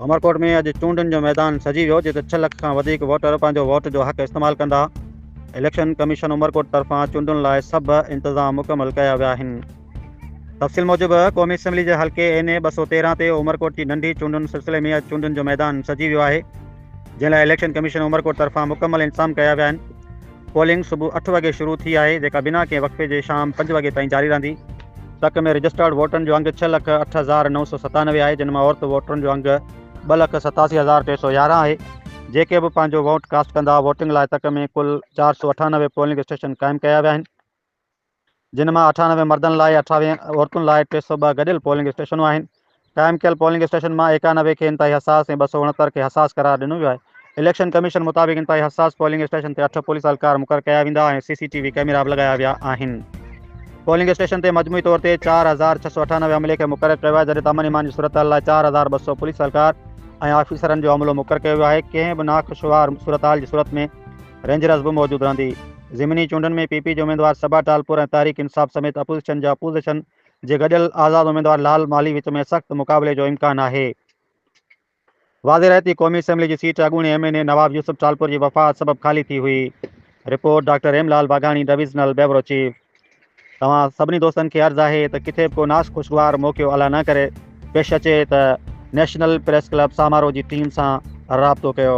عمرڪوٽ ۾ اڄ چونڊن جو ميدان سجي ويو جتي ڇهه لک کان وڌيڪ ووٽر پنهنجو ووٽ جو حق استعمال ڪندا. اليڪشن ڪميشن عمرڪوٽ طرفان چونڊن لاء سڀ انتظام مڪمل ڪيا ويا آهن. تفصيل موجب قومي اسيمبلي جي حلقي اين اي ٻه سؤ تيرهن تي عمرڪوٽ جي ننڍي چونڊن سلسلي ۾ اڄ چونڊن جو ميدان سجي ويو آهي جنهن لاء اليڪشن ڪميشن عمرڪوٽ طرفان مڪمل انتظام ڪيا ويا آهن. پولنگ صبح اٺ وڳي شروع ٿي آهي جيڪا بنا ڪنهن وقفي جي شام پنج وڳي تائين جاري رهندي. تڪ ۾ رجسٽرڊ ووٽرن جو انگ ڇهه لک اٺ هزار نو سؤ ستانوي آهي جن مان عورت ووٽرن جو انگ ٻه لک ستاسي هزار ٽي سؤ يارهن آهي جيڪي به پنهنجو ووٽ ڪاسٽ ڪندا ووٽنگ لاء تڪ ۾ ڪل چار سؤ اٺانوي پولنگ اسٽيشن قائم ڪيا ويا آهن جن مان اٺانوي مردن لاء ۽ اٺاويهه عورتن لاء ٽي سؤ ٻه گڏيل پولنگ اسٽيشنون آهن. قائم ڪيل پولنگ اسٽيشنن مان ايڪانوي کي انتهائي حساس ۽ ٻه سؤ اڻهتر کي حساس قرار ڏنو ويو آهي. اليڪشن ڪميشن مطابق انتهائي حساس پولنگ اسٽيشن تي اٺ پوليس اهلڪار مقرر ڪيا ويندا ۽ سي سي ٽي وي ڪئميرا به لڳايا ويا آهن. پولنگ اسٽيشن تي مجموعي طور تي چار هزار ڇهه سؤ اٺانوي عملي کي مقرر ڪيو ويو آهي جڏهن ته امن ايمان جي صورتحال لاء چار هزار ٻه سؤ پوليس اهلڪار ۽ آفيسرن جو عملو مقرر ڪيو ويو آهي. ڪنهن به ناخوشوار صورتحال جي صورت ۾ رينجرز به موجود رهندي. ضمني چونڊن ۾ پي پي جي اميدوار صبا ٽالپر ۽ تحريڪ انصاف سميت اپوزيشن جا اپوزيشن جي گڏيل آزاد اميدوار لال مالهي وچ ۾ سخت مقابلي جو امڪان آهي. واضح رهي ته قومي اسيمبلي جي سيٽ اڳوڻي M N A Nawab Yousuf Talpur جي وفات سبب خالي ٿي هئي. Report, doctor Hem Lal Vaghani divisional bureau chief. توهان سڀني دوستن کي عرض آهي ته ڪٿي به ڪو ناشخوشگوار موقعو الا نه ڪري پيش اچي ته نيشنل پريس ڪلب سامارو جي ٽيم سان رابطو ڪيو.